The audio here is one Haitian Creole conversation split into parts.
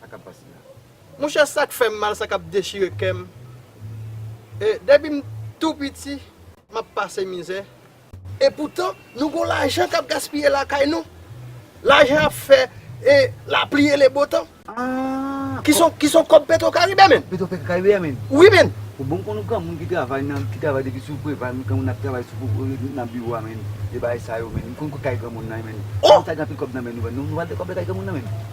Sa kap pase la. Monchè sak fèm mal sa kap dechire kèm e depim tou piti map pase mizè e poutan nou gon lajan kap gaspiye lakay nou lajan ap fè e lapli e lebotan ki son kòb petro karibe menn petro karibe a menn wi menn ou bon konn ou granmoun ki travay nan ki travay depi sou preval nou granmoun nap travay sou pou nan biwo a menn e bagay sa yo menn nou konn kout kay granmoun nan menn oh nou pral gen anpil kòb nan menn nou nou pral gen kòb lakay granmoun nan menn.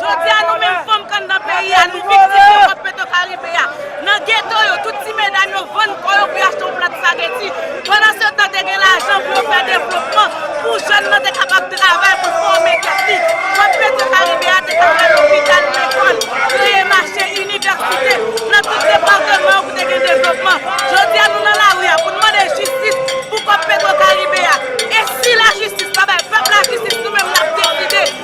Jodi a nou menm fanm k anndan peyi a nou viktim yon kòp Petwokaribe a. Nan geto yo, tout ti medam yo vann kò yo pou yo achte yon plat spageti. Pandansetan te gen lajan pou yo fè devlopman, pou jèn nan te kapab travay pou l fòme tèt li. Kòp Petwokaribe a te ka fè lopital, lekòl, kreye mache, inivèsite, nan tout depatman yo pou te gen devlopman. Jodi a nou nan lari a pou nou mande jistis pou kòp Petwokaribe a. E si lajistis pa bay pèp la jistis nou menm n ap deside.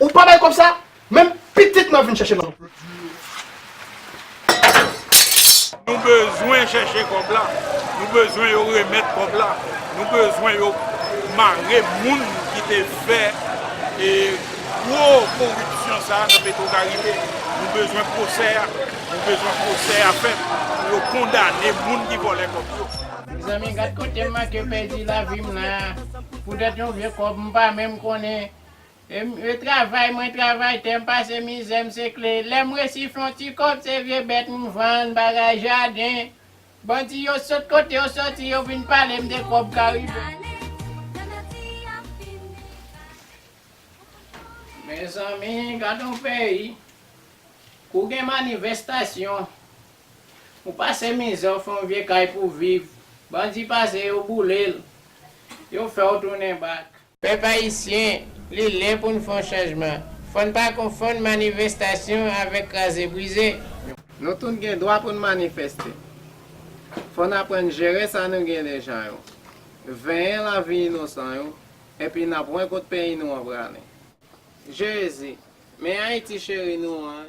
Ou pa bay kob sa? Menm pitit mwen ap vin chèche nan. Nou bezwen chèche kob la, nou bezwen yo remèt kob la, nou bezwen yo mare moun ki te fè e gwo koripsyon sa nan petro karibe, nou bezwen pwosè a, nou bezwen pwosè a fèt pou yo kondane moun ki vòlè kob yo. Mezanmi gad kotem manke pèdi lavim la poutèt yon vye kob mpa menm konnen Mwen travay, mwen travay, tè m pase mizè, m se kle. Lè m resi fè yon ti kòb, se vye bèt m vann, bagay jaden. Bandi yo sot kote yo soti, yo vin pale m de kòb karibe. Mezanmi, gad yon peyi! Kou w gen manivèstasyon, ou pase mizè, ou fè yon vye kay pou w viv, bandi pase, yo boule l, yo fè w tounen bak. Pèp Ayisyen, li lè pou n fè yon chanjman. Fò n pa konfonn manivestasyon avèk kraze brize. Nou tout gen dwa pou n manifeste. Fò n aprann jere sa nou gen deja yo. Venyen lavi inosan yo, epi n ap wè kot peyi nou an prale. Jezi, men Ayiti cheri nou an.